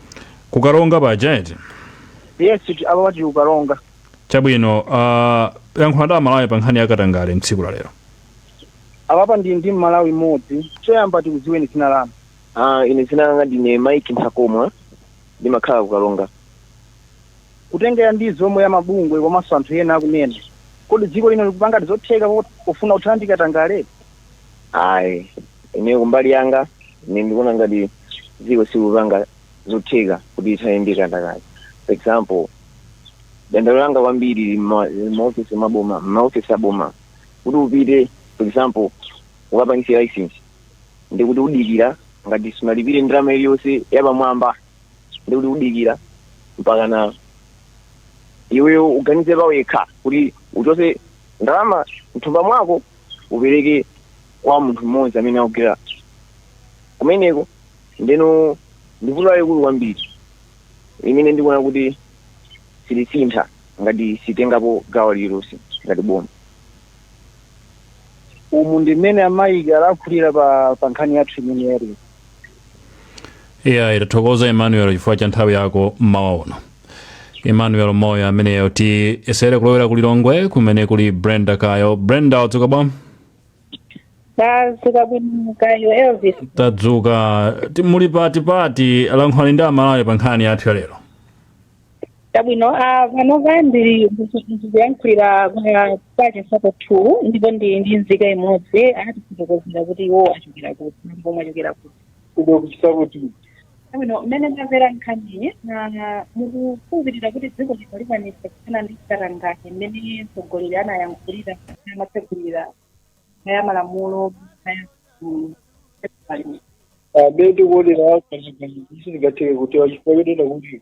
Ku Karonga paja eti? yes ti- apapa tili kukaronga Chabwino, uh, yankhula ndi amalawi pa nkhani ya katangale mtsiku la lero. apapa ndi ndi mmalawi mmodzi choyamba tikudziweni dzina lanu Ah, ine dzina langa ndine mike nthakomwa ndimakhala kukaronga kutengera ndi zomwe amabungwe komanso anthu ena akunena kodi dziko lino likupangadi zotheka po- pofuna kuthana ndi katangale ayi ine kumbali yanga ine ndikuona ngati dziko sikupanga zotheka kuti ithane ndi katangale for example dandalo langa kwambiri lili mma- lili mmaofisi maboma mmaofisi aboma kuti upite for example ukapangise license ndi kuti udikira ngati sunalipire ndalama iliyonse yapamwamba ndi kuti udikira mpaka na iweyo uganize pawekha kuti uchose ndalama mthumba mwako upereke kwa munthu mmodzi amene akugwira kumeneko ndeno ndi vuto lalikulu kwambiri limene ndikuona kuti silisintha ngati sitengapo gawo lililonse ngati boma umu ndi mmene a mike alakhulira pa pa nkhani yathu imene yali iyayi tathokoza emmanuel chifukwa cha nthawi yako mmawa uno emmanuel moyo ameneyo tiyesere kulowera ku lilongwe kumene kuli brenda kayo brenda wadzuka bwa tadzuka bwino kaya elvis tadzuka Ti- muli pati pati lankhulani ndi amalawi pa nkhani yathu ya lero Chabwino, ah, panopa ndiri ndikuyankhulira kwa chinsapo two ndipo ndi ndi nzika imodzi atifotokozera kuti iwo achokera kuti ndipo mwachokera kuti kuno ku chinsapo two chabwino mmene ndamvera nkhaniyi ah, mukukhulupirira kuti dziko lino likwanisa kuthana ndi katangale mmene mtsogoleri anayankhulira kuti amatsegulira ya malamulo ya mm, festival. mmene tikuonera kazikazikisi sizingatheke kuti wachifukwa chonena kuti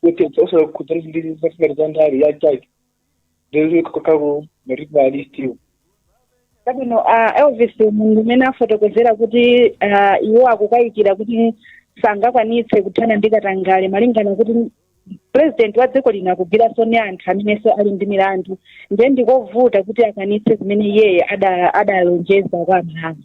kuti osala kukhudza ndi zafika za ndale ya chake ndiri kakalo matipa alistiwo chabwino uh, elvis mundu mmene afotokozera kuti uh, iwo akukayikira kuti sangakwanitse kuthana ndi katangale malingana kuti purezidenti wa dziko lino akugwiranso ndi anthu amenenso ali ndi milandu ndiye ndikovuta kuti akwanitse zimene iyeyo ada- adalonjeza kwa amalawi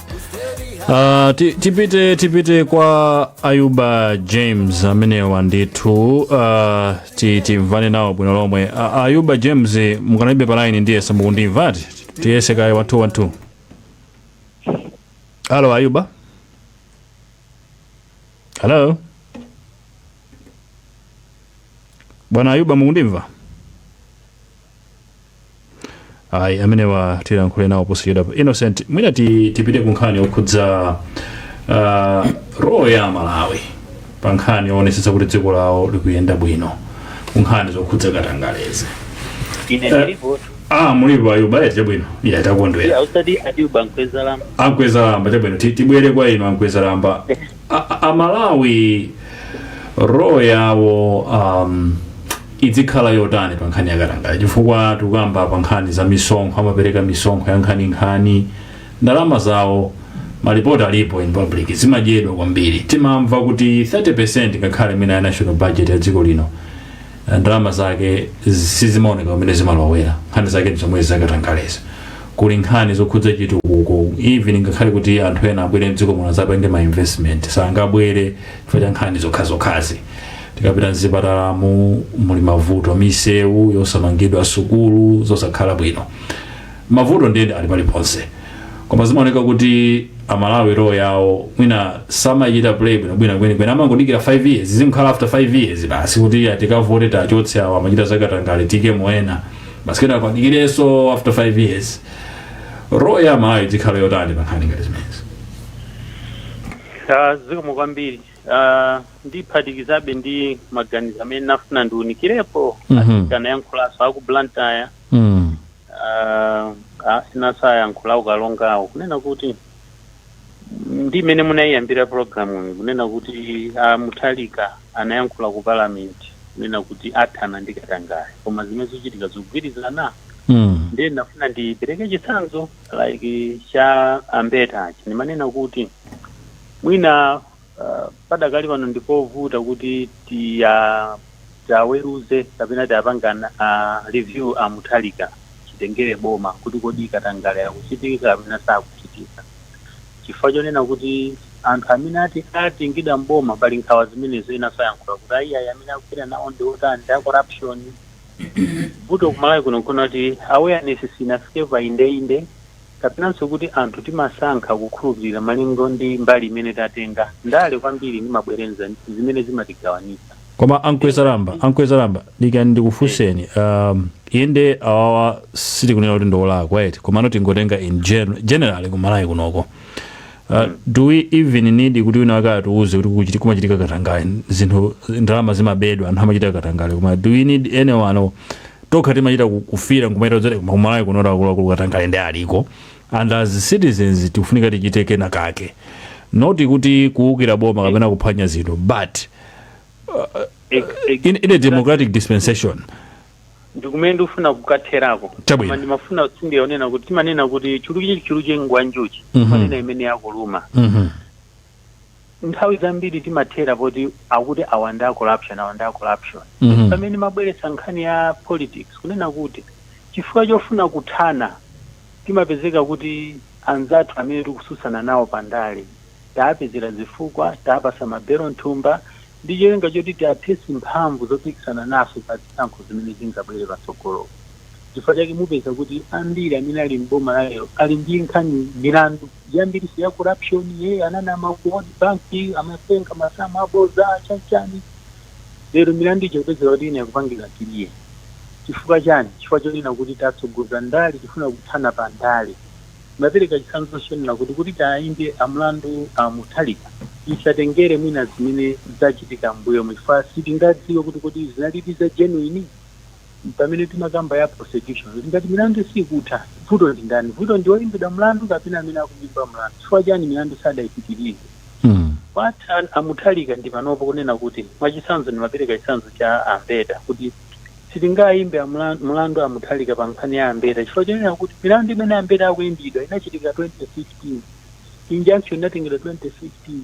Uh, ti- tipite tipite kwa ayuba james amenewa ndithu uh, ti- timvane nawo bwino lomwe uh, ayuba james mukanalibe palaini ndiye samukundimvatu tiyese kaye one two one two halo ayuba halo bwana ayuba mukundimva ayi amenewa tilankhule nawo posachedwa pa innocent mwina ti- tipite ku nkhani yokhudza uh, role ya amalawi pa nkhani yoonetsetsa kuti dziko lawo likuyenda bwino ku nkhani zokhudza katangalezi ine Eh. ndilipo ah mulipo ayuba ayi chabwino ya takondwera ausati ayuba nkwezalamba ankwezalamba chabwino ti- tibwere kwa inu ankwezalamba amalawi role yawo um, idzikhala yotani pa nkhani yakatangale chifukwa tikukamba pa nkhani za misonkho amapereka misonkho ya nkhaninkhani ndalama zawo malipoti alipo in public zimadyedwa kwambiri timamva kuti 30 ngakhale mwina ya national budget ya dziko lino ndalama zake sizimaoneka kumene zimalowera nkhani zake nzomwezi zakatangalezi kuli nkhani zokhudza chitukuko even ngakhale kuti anthu ena abwere mdziko muno azapange ma investment sangabwere chifukwa cha nkhani zokhazokhazi tikapita mzipatalamu muli mavuto misewu yosamangidwa sukulu zosakhala bwino Mavuto ndiye ali paliponse koma zimaoneka kuti amalawi role yawo mwina samachita play bwinobwino kwenikweni amangodikira 5 years zimakhala after 5 years basi kuti ya tikavote tikachotse awo amachita zakatangale tiikemo ena basi kenaka adikirenso after 5 years role ya amalawi idzikhala yotani pankhani ngati zimenezi Ah, zikomo kwambiri Ah, ndiphatikizabe ndi maganizo amene nafuna ndiunikirepo Mhm. anayankhulanso aku blantyre mm. Uh, asanayankhule aku karonga awo kunena kuti ndi mmene munayiyambira programu iyi kunena kuti a Mutharika anayankhula ku parliament kunena kuti athana ndi katangale koma zimene zikuchitika sizikugwirizana Mm. ndiye ndafuna ndipereke chitsanzo like cha ambeta achi ndimanena kuti mwina Uh, padakali pano ndipovuta kuti tiwaweruze kapena tiwapange uh, review a Mutharika chitengere boma kuti kodi katangale akuchitika kapena sakuchitika, chifukwa chonena kuti anthu amene atengedwa mboma pali nkhawa zimenezo ena akuyankhula kuti ayiayi amene akupita nawo ndi otani ndi a corruption vuto kumalawi kuno nkonena kuti awareness sinafike pa indeinde kapenanso kuti anthu timasankha kukhulupirira malingo ndi mbali imene tatenga ndale kwambiri ndi mabwerenza zimene zimatigawanitsa. Koma a Mkwezalamba, a Mkwezalamba, dikirani ndikufunseni, um, inde awawa sitikunena kuti ndiolakwa eti, komano tingotenga in gen generally ku Malawi kunoko. Uh, do we even need kuti wina wake atiuze kuti kukuchiti- kumachitika katangale zinthu ndalama zimabedwa anthu amachita katangale koma do we need anyone or tokha timachita ku- kufira nkumachita kuti koma kumalawi kuno akuluakulu katangale nde aliko and as citizens tikufunika tichite kena kake not kuti kuwukira boma kapena kuphwanya zinthu but Ex- ex- in, in a democratic dispensation ndikumene ndikufuna kukatherako Chabwino. Koma ndimafuna ndiyionene kuti timanena kuti chuluke chuluke ngwanjuchi Mhm. timanena imene yakuluma Mhm. nthawi zambiri timathera poti akuti awa ndi a corruption awa ndi a corruption Mhm. pamene mmabweretsa nkhani ya politics kunena kuti chifukwa chofuna kuthana timapezeka kuti anzathu amene tikususana nawo pandale taapezera zifukwa taapasa mabelu mthumba ndi cholinga choti tiathesi mphamvu zopikisana nafe pa zisankho zimene zingabwere patsogolo chifukwa chake mupeza kuti ambiri amene ali mboma lalero ali ndi nkhani milandu yambiriso ya corruption iyeyo ananama ku world bank amatenga masamu aboza chani chani lero milandu ija kupezeka kuti ina ikupangidwa clear chifukwa chani chifukwa chonena kuti tatsogoza ndale tifuna kuthana pa ndale ndimapereka chitsanzo chonena kuti kuti tiwayimbe mlandu a mutharika isatengere mwina zimene zachitika mbuyomu chifukwa sitingadziwe kuti kuti zinalidi za genuine Pamene timakamba ya prosecution kuti ngati milandu sikutha vuto ndi ndani? Vuto ndi oyimbidwa mlandu kapena amene akumuimba mlandu? Chifukwa chani milandu sadaipitilize? Kwa a Mutharika ndi panopa kunena kuti mwachitsanzo ndimapereka chitsanzo cha a Mbeta kuti sitingaimbe mlandu a Mutharika pa nkhani ya a Mbeta chifukwa chonena kuti milandu imene a Mbeta akuimbidwa inachitika 2015, injunction inatengedwa 2015.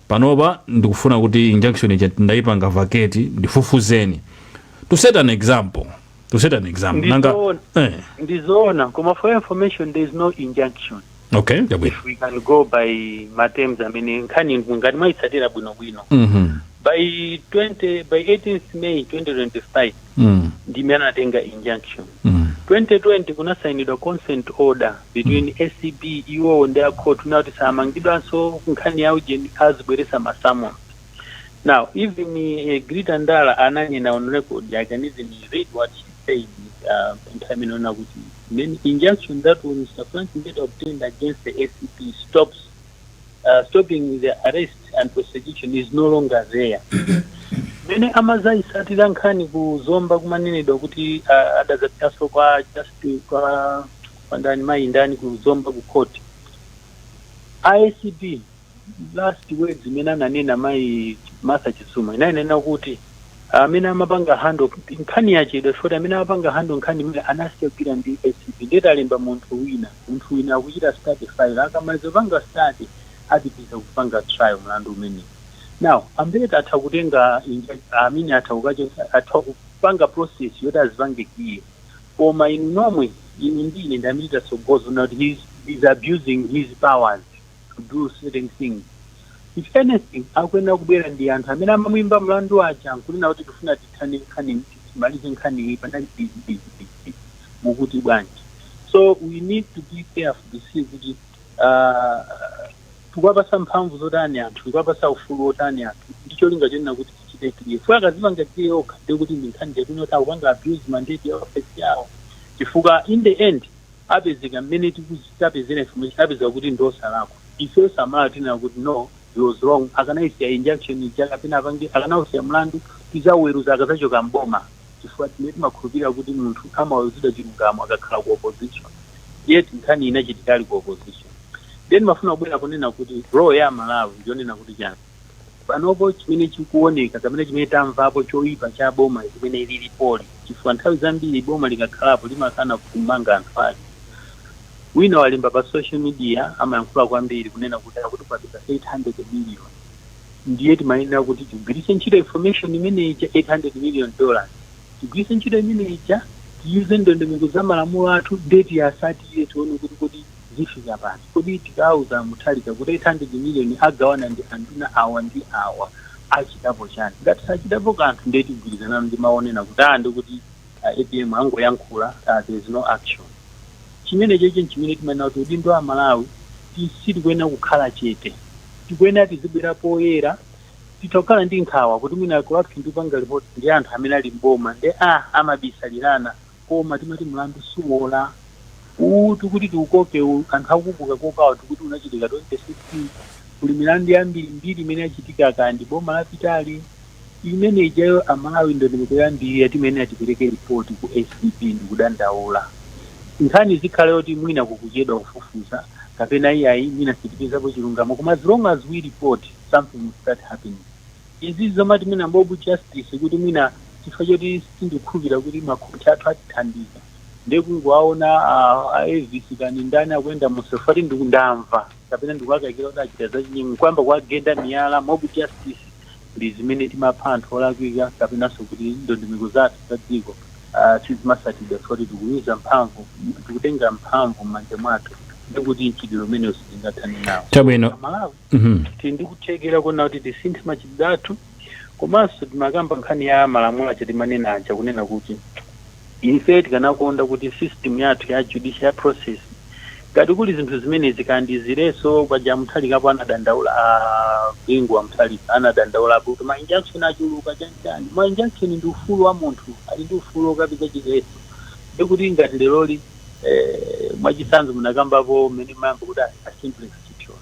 panopa ndikufuna kuti injunction ija ndaipanga vacate ndifufuzeni to set an example to set an example nanga Ndizoona. eh ndizoona koma for your information there is no injunction okay chabwino we can go by matems amene nkhani ngati mwayitsatira bwinobwino mhm by 20 by 18th may 2025 mm. ndimene anatenga injunction mm. 2020 kunasainidwa consent order between mm. acb iwowo ndi khoti kunena kuti samangidwanso nkhani ya ujeni azibweresa masamon now even uh, Egrita Ndala ananena on record i can even read what she said uh, nthawi imeneyo kuti the injunction that mr frank mbeta obtained against the acb stops uh, stopping the arrest and prosecution is no longer there mene amazayisatira nkhani ku zomba kumanenedwa kuti uh, adazapitaso kwa just kwa ndani mayi ndani ku zomba ku court ACB last words imene ananena mayi Martha Chizuma inanena kuti amene amapanga handle nkhani yachedwa poti amene amapanga handle nkhaniyi anasiya kugwira ndi ACB nde talemba munthu wina munthu wina akuchita study file akamaliza kupanga study apitiliza kupanga trial mlandu umenewo now a Mbeta atha kutenga I mean atha kupanga process yoti azipange clear koma inu nomwe inu ndi ine ndi amene titatsogoza kunena kuti he is, he is abusing his powers to do certain things if anything akuyenera kubwera ndi anthu amene amamuimba mlandu aja nkunena kuti tifuna tithane nkhani timalize nkhaniyi panali izi izi izi mukuti bwanji so we need to be careful to see kuti ah, tikuwapatsa mphamvu zotani anthu tikuwapatsa ufulu wotani anthu ndi cholinga chonena kuti tichite clear fwe akazipanga clear okha ndiye kuti ndi nkhani yonena kuti akupanga abuse mandate ya office yawo chifukwa in the end apezeka mmene tikuzi- tapezera information apezeka kuti ndi osalakwa ife osamala tinena kuti no he was wrong akanaisiya injunction ija kapena akanausiya mlandu tizauweruza akazachoka m'boma chifukwa ife timakhulupilira kuti munthu amaweruzidwa chilungamo akakhala ku opposition yet nkhani inachitika ali ku opposition ndiye ndimafuna kubwera ponena kuti role ya amalawi ndiyonena kuti chani panopo chimene chikuoneka kapena chimene tamvapo choipa cha boma limene lilipoli chifukwa nthawi zambiri boma likakhalapo limakana kumanga anthu ake Wina walemba pa social media amayankhula kwambiri kunena kuti akutipatsa 800 million ndiye timayenera kuti tigwiritse ntchito information imene ija 800 million dollars tigwiritse ntchito imene ija tiwuze ndondomeko za malamulo athu ndiye tiyasatire tione kuti kodi zifika pati kodi tikauza a Mutharika kuti 800 million agawana ndi anduna awa ndi awa achitapo chani ngati sachitapo kanthu ndiye tigwirizana ndi mawu onena kuti aa ndikuti A apm angoyankhula aa there is no action. Chimenechocho nchimene timanena kuti udindo wa Amalawi kuti sitikuyenera kukhala chete. Tikuyenera tizibwera poyera. Titha kukhala ndi nkhawa kuti mwina corruption tikupanga report ndi anthu amene ali m'boma nde aa amabisalirana koma timati mlandu suwola. Uwu tikuti tiukokewu anthu akuukokawo tikuti unachitika 2016. Kuli milandu yambirimbiri imene yachitika kaya ndi boma lapitali. Imene ijayo a Malawi ndondomeko yoyambirira timayenera tipereke report ku ACB ndikudandaula. Nkhani izikhala yoti mwina kukuchedwa kufufuza kapena iyayi mwina sitipezapo chilungamo koma as long as we report something will start happening. Izizi zomati mwina mob justice kuti mwina chifukwa choti sindikukhulupirira kuti makhoti athu atithandiza ndiye kungowaona a Avis kani ndani akuyenda munsewu chifukwa choti ndamva kapena ndikuwakaikira kuti achita zachinyengo n'kuyamba kuwagenda miyala, mob justice. ndi zimene timapha anthu olakwika kapenanso kuti ndondomeko zathu za dziko sizimasatidwa chifukwa choti tikuyuza mphamvu, tikutenga mphamvu m'manja mwathu ndikuti mchitidwe umenewu sitingathane nawo. Chabwino. Amalawi Mhm. tili ndi kuthekera kuona kuti tisinthe machitidwe athu komanso timakamba nkhani ya malamulo aja timanena aja kunena kuti Ife tikanakonda kuti system yathu ya judicial process ngati kuli zinthu zimenezi kaya ndi zileso paja a Mutharikapo anadandaula a Bingu wa Mutharika anadandaulapo kuti ma injunction achuluka chani chani ma injunction ndi ufulu wa munthu ali ndi ufulu okapeza chileso ndiye kuti ngati leroli eh, mwachitsanzo munakambapo mmene mumayamba kuti a, a Simplex Chithyola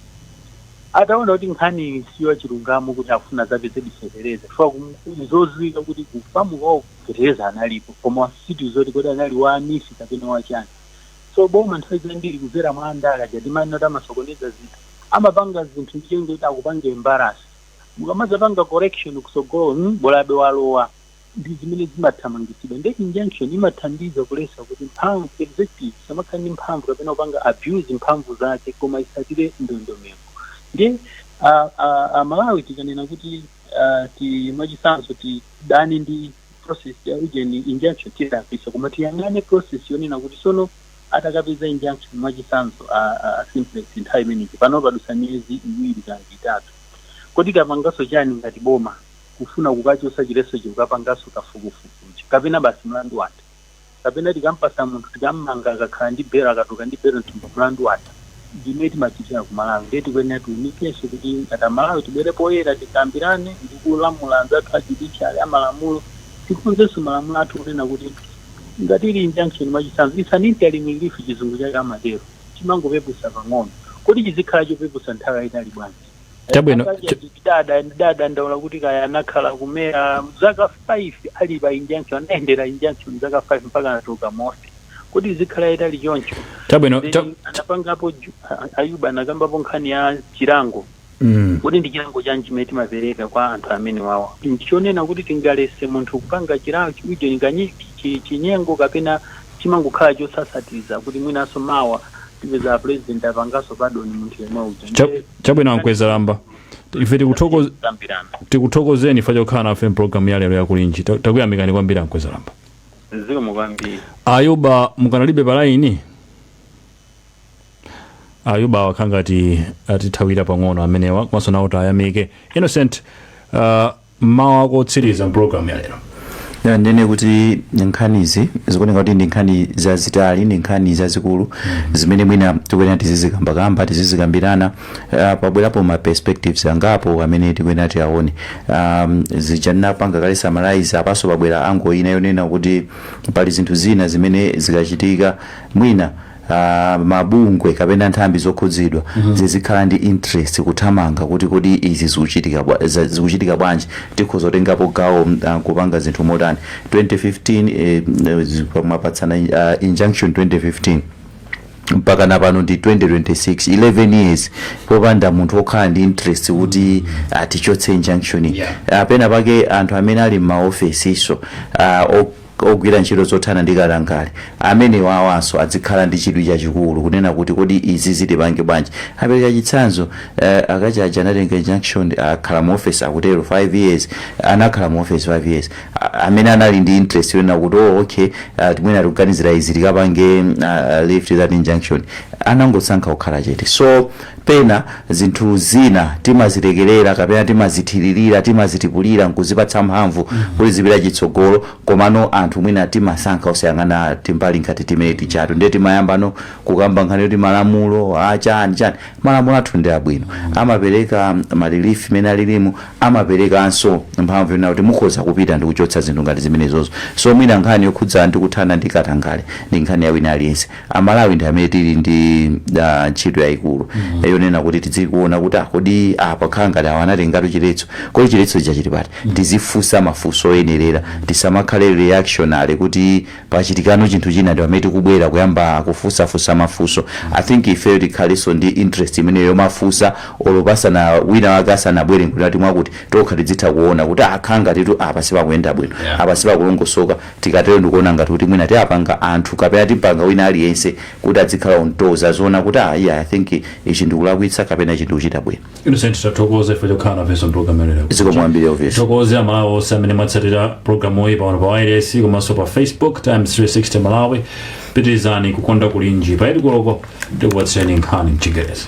ataona kuti nkhani siyo chilungamo kuti afuna azapezedi fetereza chifukwa kum- zoziwika kuti kufamu kwawo fetereza analipo koma situ zoti kodi anali wa a NEEF kapena wa chani so boma nthawi zambiri kuzera mwa andale aja timanena kuti amasokoneza zinthu amapanga zinthu ndi cholinga kuti akupange embarrass mukamazapanga correction kusogolo mm, bolabe walowa ndi zimene zimathamangitsidwa nde injunction imathandiza kulesa kuti mphamvu executive isamakhale ndi mphamvu kapena kupanga abuse mphamvu zake koma isatire ndondomeko nde a- a- amalawi tikanena kuti ah, ti mwachisanzo ti dane ndi process ya ujeni injunction tilakwisa koma tiyang'ane process yonena kuti sono atakapeza injunction mwachisanzo a, a, a Simplex nthawi imeneyi pano padusa miyezi iwiri kana itatu kodi tapangaso chani ngati boma kufuna kukachosa chileso chikukapangaso kafukufukuchi kapena basi mlandu watha kapena tikampasa munthu tikammanga akakhala ndi belo akatuluka ndi belo m'thumba mlandu watha. ndi mmene timachitira ku Malawi ndiye tikuyenera tiunikenso kuti ngati a Malawi tibwere poyera tikambirane ndi kulamula anzathu a judiciary a malamulo tikonzenso malamulo athu kunena kuti ngati ili injunction mwachitsanzo it's an interim relief chizungu chake amatero chimangopeputsa pang'ono kodi chizikhala chopeputsa nthawi yaitali bwanji? Chabwino, Angalia cho- tada- tadandaula kuti kaya anakhala ku MERA zaka 5 ali pa injunction anayendera injunction zaka 5 mpaka anatuluka moti kodi izikhala yaitali choncho Chabwino, Then cha- anapangapo ju- a- Ayuba anakambapo nkhani ya chilango Mm. kodi ndi chilango chanji chimene timapereka kwa anthu amenewawa ndichonena kuti tingalese munthu kupanga chilango chimideni kanye chi- chinyengo kapena chimangokhala chosasatiza kuti mwinanso mawa tipeza apresident apanganso pardon munthu yemwe uja Cha- ndiye chabwino ankwezalamba ife tikuthokoz- kukambirana tikuthokozeni chifukwa chokhala nafe mpulogalamu ya lero yakulinji Ta- takuyamikani kwambiri ankwezalamba zikomo kwambiri ayuba mukanalibe palaini ayuba wakhanga ati atithawira pang'ono amenewa komanso nawo tayamike innocent uh, Mawu ako otsiriza m'pulogalamu ya lero. Ya, ndinene kuti nkhanizi zikuoneka kuti ndi nkhani zazitali ndi nkhani zazikulu zimene mwina tikuyenera tizizikambakamba tizizikambirana ah, pabwerapo ma perspectives angapo amene tikuyenera tiyaone um, zija anapanga kale summarize apanso pabwera ango ina yonena kuti pali zinthu zina zimene zikachitika mwina ah, mabungwe kapena nthambi zokhudzidwa zizikhala ndi interest kuthamanga kuti kodi izi zikuchitika bwa- za- zikuchitika bwanji tikhoza kutengapo gawo mm, ah, kupanga zinthu motani 2015 eh, mm, zi- mwapatsana ah, injunction 2015 mpaka na pano ndi 2026 11 years popanda munthu wokhala ndi interest kuti tichotse injunction Yeah. apena pake anthu amene ali m'maofesiso ah, o- ogwira ntchito zothana ndi katangale amenewa awanso adzikhala ndi chidwi chachikulu kunena kuti kodi izi tizipange bwanji. Apereka chitsanzo eh, akacha aja anatenga injunction akhala mu office akutero 5 years anakhala mu office 5 years A- amene anali ndi interest yonena kuti oh, okay ah, timene tikuganizira izi tikapange ah, lift that injunction anangosankha kukhala chete so Pena zinthu zina timazilekelera kapena timazithililira, timazitipulira nkuzipatsa mphamvu kuti zipite chitsogolo komano anthu mwina timasankha osayang'ana timbali ngati timene tijatu ndiye timayambano kukamba nkhani yoti malamulo a chani chani malamulo athu ndi abwino amapeleka ma relief mene alilimu amapelekanso mphamvu yonena kuti mukhoza kupita ndikuchotsa zinthu ngati zimenezozo so mwina nkhani yokhudza ndi kuthana ndi katangale ndi nkhani ya wina aliyense amalawi ndi amene tili ndi ah, ntchito yayikulu yonena kuti tizikaona kuti ah, kodi apa khala ngati awa anatengatu chiletso kodi chiletso chija chili pati tizifunsa mafunso oyenerera tisamakhale reactionary kuti pachitikano chinthu china ndi pamene tikubwera kuyamba kufunsafunsa mafunso i think ifeyo tikhalenso ndi interest imeneyo yomafunsa olo pasana wina wake asanabwere nkuti mwakuti tokha tidzitha kuona kuti a khala ngatitu apa sipakuyenda bwino Yeah. apa sipakulongosoka Tikatero ndikuona ngati kuti mwina tiapanga anthu kapena timpanga wina aliyense kuti adzikhala on toes aziona kuti aah iyaa I think ichi ndikulakwitsa kapena ichi ndikuchita bwino. Innocent tathokoza chifukwa chokhala nafenso mpulogalamu ya lero. Zikomo kwambiri Elvis. Tithokoze amalawi onse amene mwatsatira pulogalamu iyi pano pa wireless komanso pa Facebook Times 360 Malawi. Pitirizani kukonda kulinji pa 8 koloko tikupatsireni nkhani mchingerezi.